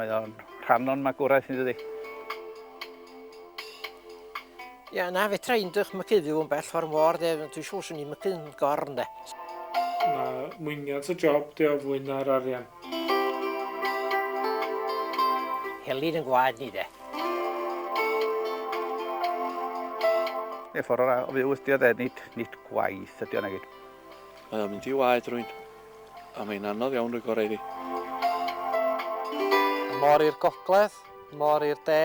Mae o'n rhan o'n magwraeth ni dydi? Ia, na, fedra i'n dychmygu fyw yn bell o'r môr, de, dwi'n siŵr swn i'n mygu yn gorn, de. Mae mwynhad y job, de, o fwy na'r arian. Helin yn gwaed ni, de. Neu ffordd o ra- o fyw ydi o, de, nid, nid gwaith ydi o nagid. Mae o'n mynd i waed rwy'n, a mae'n anodd iawn rhoi gorau iddi. Môr i'r gogledd. Môr i'r de,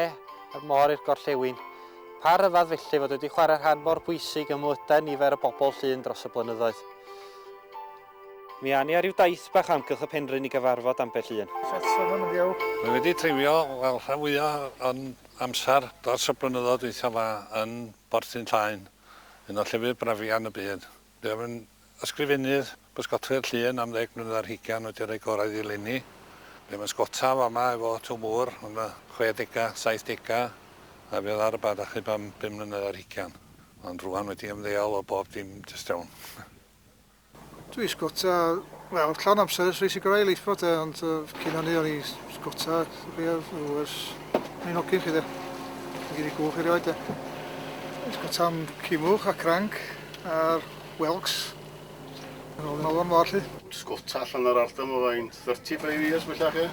a'r môr i'r gorllewin. Pa ryfedd felly fod wedi chwarae rhan mor bwysig ym mywydau nifer o bobl Llŷn dros y blynyddoedd. Mi awn ni ar ryw daith bach o amgylch y penrhyn i gyfarfod ambell un. Mae wedi treulio wel rhan fwya o'n amser dros y blynyddoedd dwytha 'ma yn Borth Ynllaen, un o llefydd brafian y byd. Buom yn ysgrifennydd bysgotwy'r llun am ddeg mlynedd ar hugain wedi rhoi gorau iddi eleni. Buom yn sgota fama efo Tw Mŵr yn y chwedega, saithdega a fuodd ar y bad achub am bum mlynedd ar hugain. Ond rŵan wedi ymddeol o bob dim jyst iawn. Dwi sgota, wel, llawn amser ers rhoi sigarau i leithfa de, ond cyn hynny o'n i sgota, dych chi, o, ers o'n i'n hogyn 'lly de. Mae gen i gwch erioed de. Sgota am cimwch a cranc. A'r whelks yn ôl yn môr 'lly. Pysgota allan o'r ardal 'ma fain 35 years bellach ia?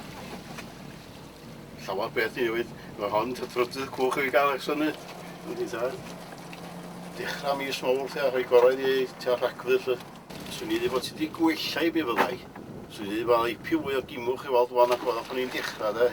Llawer peth newydd. Mae hon ta trydydd cwch i fi gael eich synu. Yndi tad. Dechrau mis Mowrth ia, rhoi gorau iddi eu tua Rhagfyr 'lly. Swn i ddeud bod ti 'di gwella i mi fyddai. Swn i ddeud bod 'na ipyn fwy o gimwch i weld wan nac oedd pan o'n i'n dechrau de.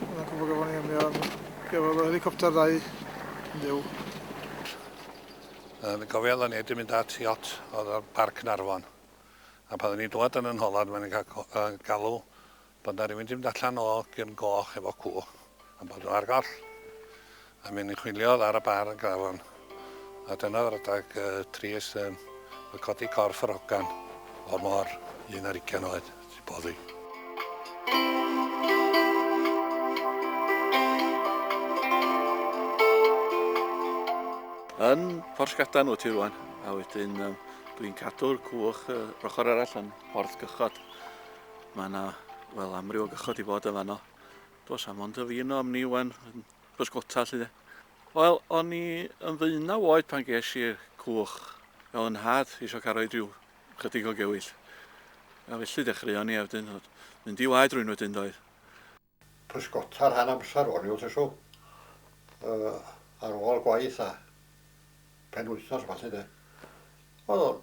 Mae'n gwybod gafon ni ymwneud am gafodd y helicopter ddau yn fyw. Yn gofio oedden ni wedi mynd at iot oedd o'r Parc Narfon. A pan oedden ni'n dod yn yn holad, mae'n cael uh, galw bod na rhywun wedi mynd allan o gyrn goch efo cw, a bod nhw ar goll. A mi ymchwiliodd ar y bar yn Grafon, a dyna oedd yr adeg yy trist yym oedd codi corff yr hogan o'r môr, un ar ugain oed, sy'n boddi. Yn Porth Gadan wyt ti rwan, a wedyn um, dwi'n cadw'r cwch yr ochr arall yn Porth Gychod. Mae yna, wel, amryw o gychod i fod yn fanno. Dos am ond y fi yno am ni wan, pysgota 'lly de. Wel, o'n i yn ddeunaw oed pan ges i'r cwch. Fel yn nhad eisiau cael rhoi rhyw chydig o gewyll. A felly dechreuon ni a wedyn oedd mynd i waed rwy'n wedyn doedd. Pysgota rhan amser o'n i wrth reswm. Ar ôl gwaith a penwythnos a ballu de. Oedd o'n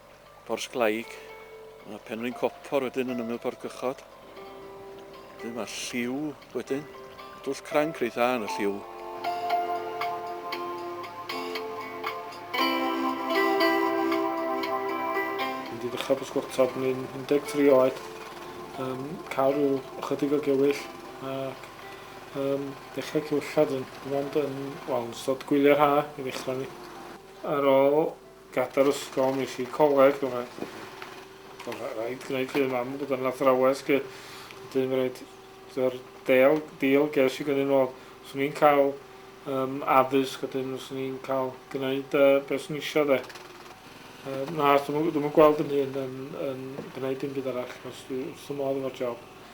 Porthglaig. Mae Penrhyn Copor wedyn yn ymyl Porthgychod. Wedyn mae Lliw wedyn. Dwll cranc reit dda yn y Lliw. Wedi dechrau pysgota pan i'n 13 oed. Um, cael rhyw ychydig o gewyll ac um, dechrau cywillad yn, ond yn, wel, yn ystod gwylio'r ha i ddechrau ni. Ar ôl Gadael ysgol, mi es i coleg, ond oedd rhaid gwneud lle i mam bod yn athrawes lly, wedyn mi raid, dy'r del, deal ges i gynny'n ôl, os o'n i'n cael um, addysg, wedyn os o'n i'n cael gwneud uh, beth sy'n eisiau dde. Uh, na, dwi'n yn gweld yn hyn yn, yn gwneud dim byd arall, os dwi'n wrth y modd efo'r job.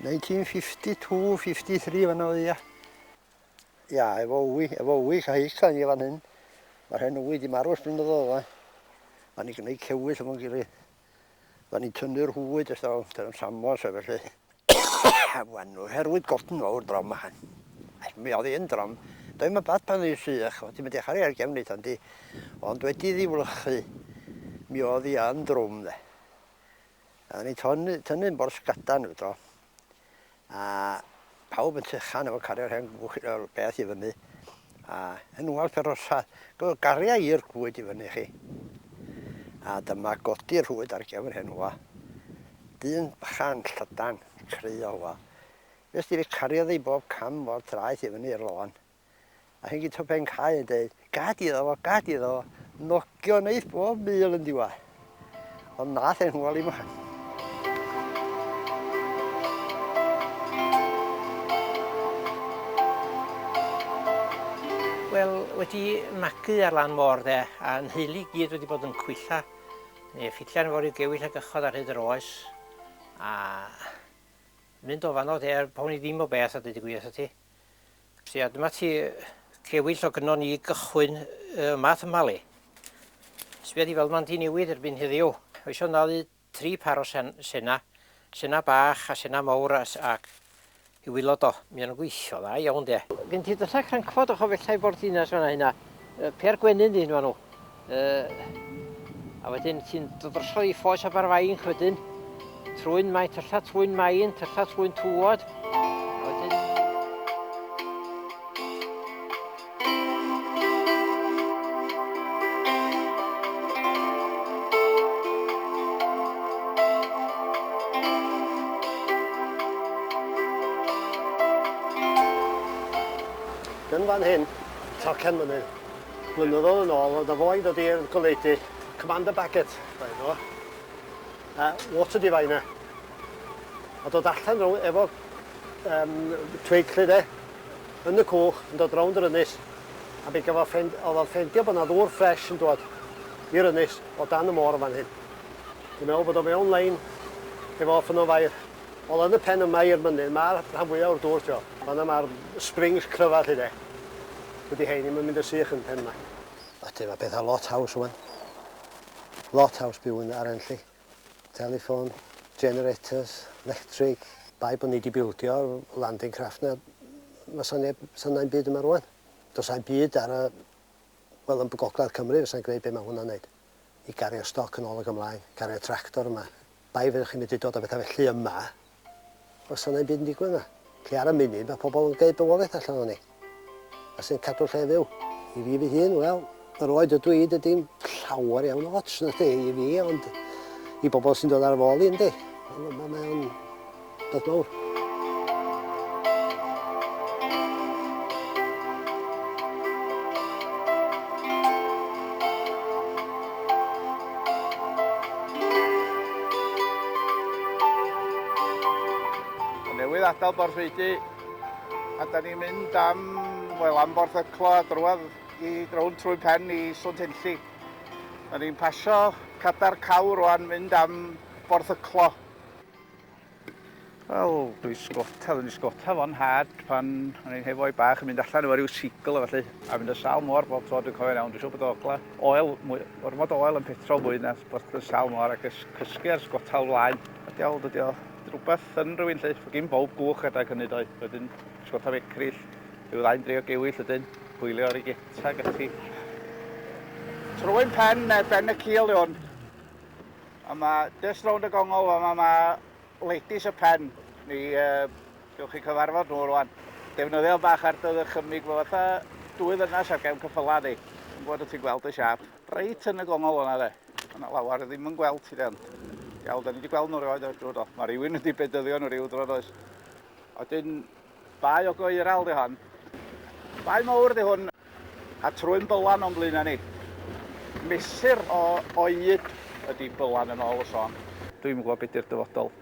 1952, 53 fan oedd ia. Ia, efo wy, efo wy, cael heis cael ni fan hyn. Mae'r hen wy di marw ys blynyddoedd yma. Fan ni gwneud cewyll efo'n gilydd. Fan ni'n tynnu'r hwyd ys dal, dyn nhw'n samos a felly. a fan nhw, herwydd gofn fawr drom a han. Mi oedd hi'n drom. Doedd mae bad pan oedd sych, oedd ti'n mynd i chari ar gefn eitha di. Ond wedi ddi wlychu, mi oedd hi yn drwm dde. A o'n i'n tynnu, tynnu yn bors gadan nhw to. A pawb yn tychan efo cario'r hen beth i fyny. A yn wal perrosa, gyda'r gariau i'r gwyd i fyny chi. A dyma godi'r rhwyd ar gefn hen wa. Dyn bychan, llydan, cry o wa. Fes di fi cariodd ei bob cam o'r traeth i fyny i'r loan. A hyn gyda pen cae yn dweud, gad iddo fo, gad iddo fo, nogio neith bob mil yn diwa. Ond nath e'n hwyl i mlaen. Wel, wedi magu ar lan môr dde, a nheulu gyd wedi bod yn cwylla, neu ffitian fori gewill a gychod ar hyd yr oes, a mynd o fanno dde, pa hwn i ddim o beth a dweud y gwir ti. Sia, dyma ti cewyll o gynnon i gychwyn y math yma le. Sbia di fel ma'n di newid erbyn heddiw. Oes o'n ddalu tri par o sen, sena, sena bach a sena mawr a, ac i wylod o. Mi o'n gweithio dda iawn de. Gen ti dylla crancfod o chofellai Borddinas fanna hynna. Pêr gwenyn di hyn fanw. Yy, a wedyn ti'n dod drosodd i ffos Aberfainc wedyn, trwy'n maen, tyllau trwy'n maen, tyllau trwy'n tŵod. Yn fan hyn, tocen mynydd. Blynyddoedd yn ôl, oedd 'na foi yn dod i'r goleudy, Commander Baggett oedd enw fo, a water diviner. A dod allan row- efo um, tweidllu de, yn y cwch, yn dod rownd yr ynys, a mi gafodd ffend, oedd o'n ffendio bod yna ddŵr ffres yn dod i'r ynys o dan y môr yn fan hyn. Dwi'n meddwl bod o mewn lein efo ffynnon fair. Wel, yn y pen yma i'r mynydd, mae'r rhan fwyaf o'r dŵr, ti'n meddwl. Fanna mae'r springs cryfa, lle de. Dydy hein ddim yn mynd yn sych yn pen 'ma. Felly mae pethau lot haws rwan. Lot haws byw yn Arenlli. Telefon, generators, lectric. Bai bod ni wedi bildio landing craft na, fysa neb, fysa nain byd yma rwan. Dos a'n byd ar y, wel yn Gogledd Cymru fysa'n gwneud be mae hwnna'n neud. I gario stoc yn ôl ac ymlaen, gario tractor yma, Bai fyddech chi'n medru dod a bethau felly yma, os sa 'na ddim byd yn digwydd yma. Felly ar y munud, mae pobl yn gwneud bywoliaeth allan ohoni, a sy'n cadw'r lle fyw. I fi fy hun, wel, yr oed ydw i, dydy'm llawer iawn o ots, na 'di, i fi, ond i bobl sy'n dod ar fy ôl i, yndi. Mae o'n... Diolch fawr. newydd adael Borthfeidi a da ni'n mynd am, wel, am Bortheclo a drwad i drown trwy pen i Swnt Enlli. Da ni'n pasio cadar cawr rwan mynd am Bortheclo. Wel, dwi sgota, dwi'n sgota fo'n nhad pan o'n i'n hefo'i bach yn mynd allan efo rhyw sigl a felly, a mynd y sal mor bob tro dwi'n cofio'n iawn, dwi'n siŵr bod ogla oel, mwy, ormod oel yn petrol mwy na bod yn sal mor ac ys cysgu ar sgota flaen. A diawl, dydy o, rhywbeth yn rhywun lle, fo gyn bob gwch adeg hynny doi, wedyn sgota fecryll, rhyw ddau'n dreio gewyll ydyn, hwylio ar ei geta ac ati. Troi'n pen, ben y cil o'n. A ma jyst rownd y gongol fama ma ladies y pen. Mi uh, gewch chi cyfarfod nhw rwan. Defnyddio bach ar dy ddychymyg fo fatha dwy ddynas ar gefn cyffyla di. Yn gwybod y ti'n gweld y siap. Reit yn y gongol yna de. Yna lawr ddim yn gweld ti de ond. Iawn, da ni wedi gweld nhw rhywbeth o'r drwy do. Mae rhywun wedi bedyddio nhw rhyw dro does. Oedyn Bae o goeral 'di hon. Bae mowr 'di hwn, a trwyn bylan o'n blaena ni. Mesur o oed ydi bylan yn ôl y sôn. Dwi'm yn gwbod be' 'di'r dyfodol.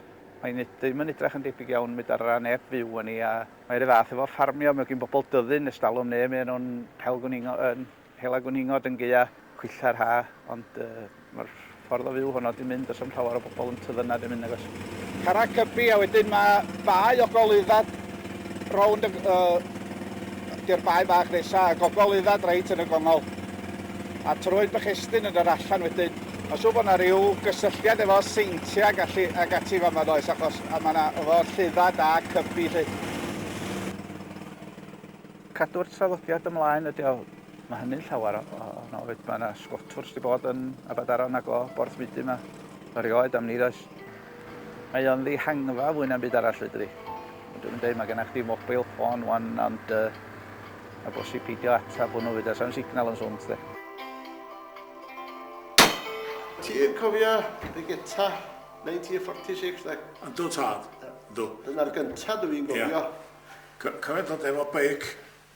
Mae nid ddim yn edrach yn debyg iawn medar ra neb fyw yn i a mae ry fath efo ffarmio, mae gin bobol dyddyn estalwm ne' mae e nw'n hel gwningo yn Hela gwningod yn gaea cwilla'r ha, ond mae'r ffordd o fyw honno di mynd, does am llawer o bobl yn tydd yna di mynd nagos. Carreg Cybi a wedyn mae bae o Goleuddad rownd y y di'r bae bach nesa a Gogoleuddad reit yn y gongol a Troed Bychestyn yn yr allan wedyn. Mae'n siŵr bod yna ryw gysylltiad efo Seintiau ac allu ac ati fama does achos a mae yna efo Lleuddad a Cybi lly. Cadw'r traddodiad ymlaen ydy o. Mae hynny'n llawer o, o, o noed. Mae yna sgotwrs wedi bod yn Abadaron ac o Borthmydu yma. Erioed am ni ddoes. Mae o'n ddihangfa fwy na'm byd arall fedri. Dwi'n yn dweud, mae gennych chdi mobile ffôn wan, ond uh, a bosib peidio atab hwnnw fyd, a sam signal yn swnt de. Ti'n cofio y geta 1946 de? Yndw tad, yndw. Dyna'r gyntaf dwi'n gofio. Yeah. Cofia dod efo beic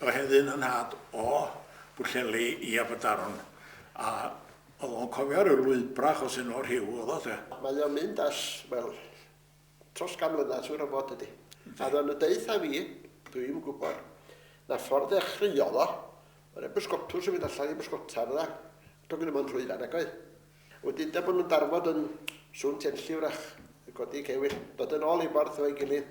o heddi'n y nhad o Bwllheli i Aberdaron a o'dd o'n cofio ryw lwybra achos un o'r rhiw o'dd o de. Mae o'n mynd as wel tros gan mlynadd siŵr o fod dydi? A o'dd o'n y deuth a fi, dwi'm yn gwbod, na ffordd ddechreuodd o, o' na bysgotwrs yn mynd allan i bysgota fydda, do'n gynno fo'n llwyfan nag oedd? Wedyn de bo' nhw'n darfod yn Sŵn Tenlli wrach, yn codi cewyll, dod yn ôl i ffordd efo'i gilydd.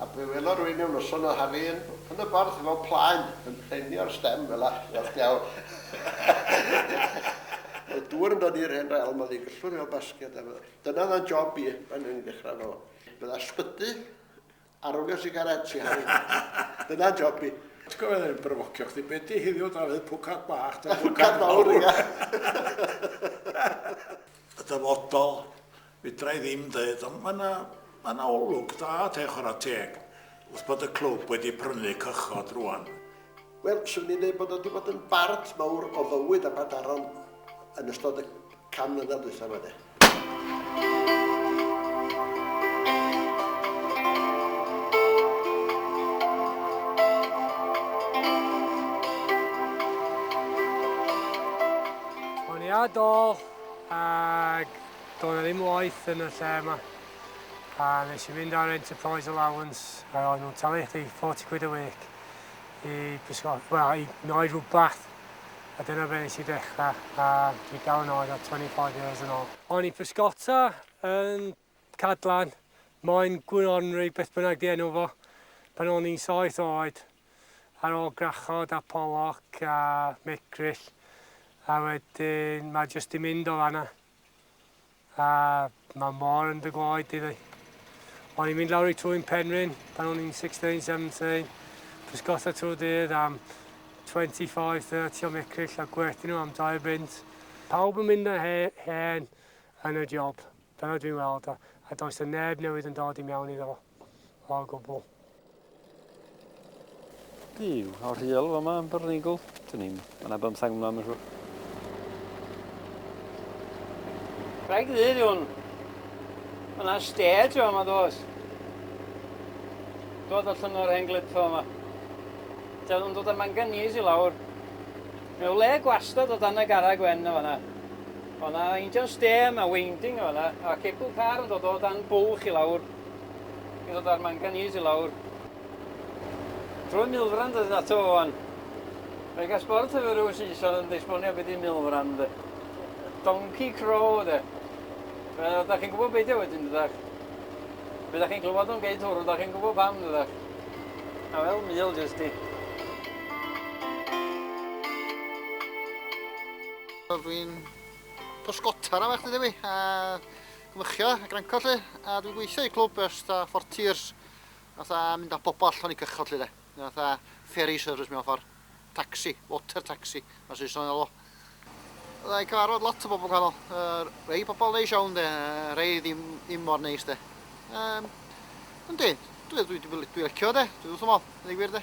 A be welo rwy'n mewn noson o haf yn yn y borth efo plaen yn prenio'r stem fela. Gwerth diawl. Oedd dŵr yn dod i'r hen realm oedd hi'n gyllwr fel basged a fydda. Dyna oedd o'n job i pan o'n i'n dechrau efo fo. Bydda sbyty a rowlio sigaret i Harri. Dyna job i. Ti'n cofio oedd e'n bryfocio chdi, be di heddiw Dafydd, pwcad bach ta pwcad mawr? Y dyfodol Fedra i ddim deud, ond mae 'na, mae 'na olwg da te chwarae teg, wrth bod y clwb wedi prynu cychod rŵan. Wel, 'swn i'n deud bod o 'di bod yn bart mawr o fywyd Abadaron yn ystod y can mlynedd dwytha 'ma de. Bwriadol ag Doedd 'na ddim waith yn y lle yma a nes i fynd ar enterprise allowance a o'n nhw'n talu chdi 40 quid a week i bysgo, wel i noed rhywbeth a dyna fe nes i ddechrau a dwi dal yn oed o 25 years yn ôl. O'n i'n pysgota yn Cadlan, moyn gwronri beth bynnag di enw fo, pan o'n i'n saith oed ar ôl gwrachod a pollock a micryll a wedyn mae jyst di mynd o fanna. A mae mor yn dy gloi di ddi. O'n i'n mynd lawr i trwy'n penryn pan o'n i'n 16, 17. Pysgotha trwy dydd am 25, 30 o mecryll a gwerthu nhw am 2 bunt. Pawb yn mynd yn hen yn y job, dyna dwi'n weld, a does 'na neb newydd yn dod i mewn iddo fo. O gwbl. Byw, o rhiol fama yn Byrnigl. Dyn ni'n... Mae yna bymthang yma, mae'n siŵr. Rhaid ddyn nhw'n... Mae yna stage o yma, dos. Dod allan o'r hen glipfa yma. Dyn nhw'n dod â manganese i lawr. Mae le gwastad o dan y gara gwen o fanna. Mae yna injan stêm a winding o fanna, a cebl car yn dod o dan bwlch i lawr. I ddod â'r manganîs i lawr trwy milfran dydyn ato fo wan. Mae gas bord hefyd rhyw Saeson yn esbonio beth i milfran de. Donkey crow de. Wel, da chi'n gwybod beidio wedyn dydach. Fe da chi'n clywed o'n geid hwrw, da chi'n gwybod pam dydach. A fel mil jyst i. Dwi'n pysgotar am eich dydw i, a Cymychia a granca 'lly, a dwi'n gweithio i clwb ers ta four tiers, fatha mynd â pobl allan i cychod 'lly de, fatha ferry service mewn ffordd, taxi, water taxi, mae Saeson yn alw. Fydda i'n cyfarfod lot o bobl gwahanol, rhai pobl neis iawn de, rhai ddim, ddim mor neis de. Um, yndi, dwi'n dwi, dwi, dwi licio de, dwi'n wrth ymol, yn ei gwir de.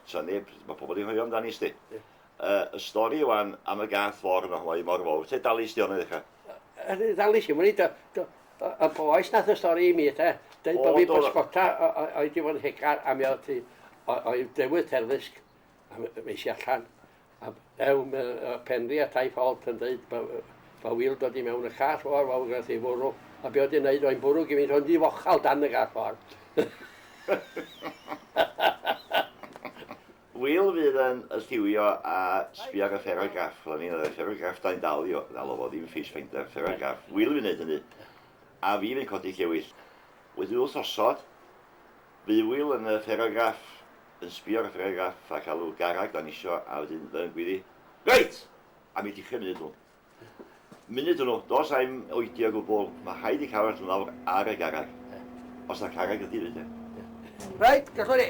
Sa neb, mae pobl wedi hoio amdani sti. Ie. Uh, y stori wan am y gath for yma, hoi mor fawr. Te dalu sti o'n ddechrau? Yr ddalu si, mwyn y boes nath y stori i mi, te. Dweud bod fi bysgota o'i di fod yn hegar am iawn ti. O'i dewydd terfysg. Meisi allan. A ew me y Penri a Taith Holt yn deud ba, ba wyl dod i mewn y call o'r fawr gradd ei fwrw, a be oedd yn neud o'i'n bwrw gymint o'n ddifochal dan y gall o'r. Wyl fydd yn y lliwio a sbio ar y pheragraff, fel o'n i'n ddeud, pheragraff da i'n dal i o, ddal o fo, ddim face finder, pheragraff, wyl fydd yn neud hynny, a fi fydd codi llewyll. Wedi wyl sosod, Bydd Wil yn y fferograff yn sbio ar y fferograff ac alw garreg dan isio a wedyn fe yn gwyddu, Reit! Am i dichre munud hwnnw. Munud hwnnw, dos ai'm oedi o gwbwl, mae rhaid i carreg allan lawr ar y garreg. Os na carreg ydi fyd e. Reit, gallwn i.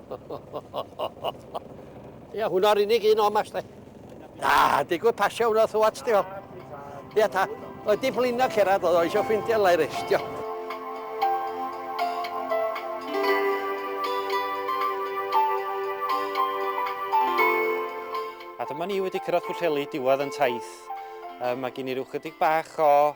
Ia, hwnna'r unig un o'n mas, de. Na, digwydd pasio hwnna thu at, di o. Ia, ta. Oedd di blino cerad, oedd o eisiau ffeindio lai restio. A dyma ni wedi cyrraedd Pwllheli, diwedd yn taith. Um, mae gen i rhyw chydig bach o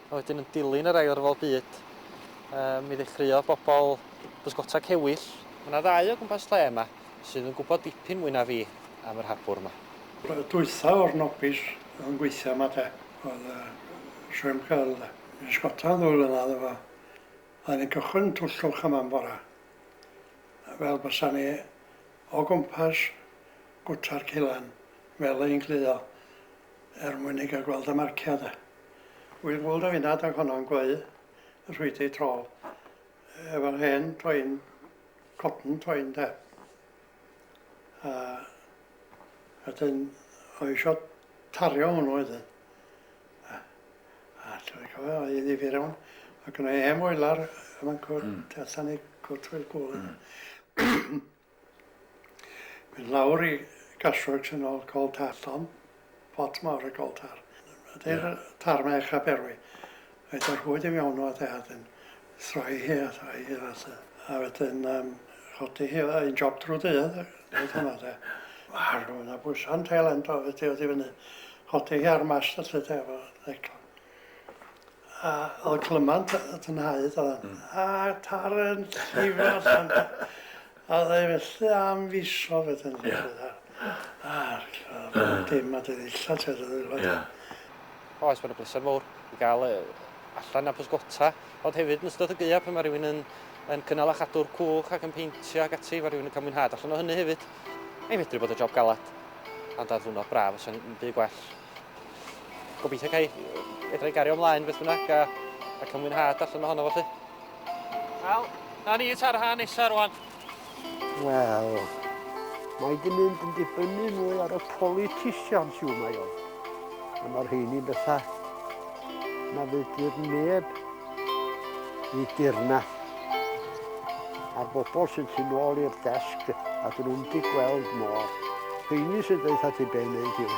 A wedyn yn dilyn yr Ail Ryfel Byd, yy, mi ddechreuodd bobl bysgota cewyll. Mae yna ddau o gwmpas lle yma sydd yn gwybod dipyn mwy na fi am yr hapwr yma. Bore dwytha o'r nobis oedd yn gweithio yma de, oedd yy Sherm Curl de, yn bysgota am ddwy flynadd efo, oedden ni'n cychwyn yn twll llwch yma am bora, fel bysa ni o gwmpas gwta'r celan fel ein cludo, Er mwyn ei gael gweld a marcio de. Wyl Wold a finna adag honno yn gweu y rhwydi tro efo'r hen toen, cotton toen de. A wedyn o eisiau tario hwnnw wedyn. A, a dwi'n cofio, oedd hi'n ddifir iawn. Ac yna i hen foelar y mancwr mm. tu allan i gwt Wyl Gwl. Mm. Mynd lawr i Gasworks yn ôl Coll Tar llond pot mawr o Goll Tar. Adeir y tar mae eich Aberwi. Rhaid y rhwyd i fewn o a wedyn throi hi a throi hi at y... A wedyn um, chodi hi oedd un job drwy dydd, oedd hwnna de. Ar hwnna bwysan tail end o fe diod i fyny. Chodi hi ar mast y lle de, efo neclon. A oedd y clymant y tynhaedd oedd e. A tar yn llifo allan. A oedd e felly am fisoedd wedyn. Ia. A'r clymant dim ond yn ddillad ti weld oedd e. Ia. O oes mae'n y bleser mowr i gael yy allan a pysgota ond hefyd yn ystod y gaeaf pan mae rhywun yn yn cynnal a chadw'r cwch ac yn peintio ac ati mae rhywun yn cael mwynhad allan o hynny hefyd. Mae'n medru bod yn job galed ond ar ddwrnod braf fysa hi'n byd gwell. Gobeithio cael fedra i gario ymlaen beth bynnag a, a cael mwynhad allan ohono fo chi. Wel, na ni ta'r rhan nesaf rwan. Wel, mae di mynd yn dibynnu mwy ar y politicians yw mae o. A mae'r rheini'n bethau Na fedrith neb i dirna. A'r bobl sy'n tu nôl i'r desg a dyn nhw'n di gweld mor. Rheini sy'n dweud ti be wneud yw.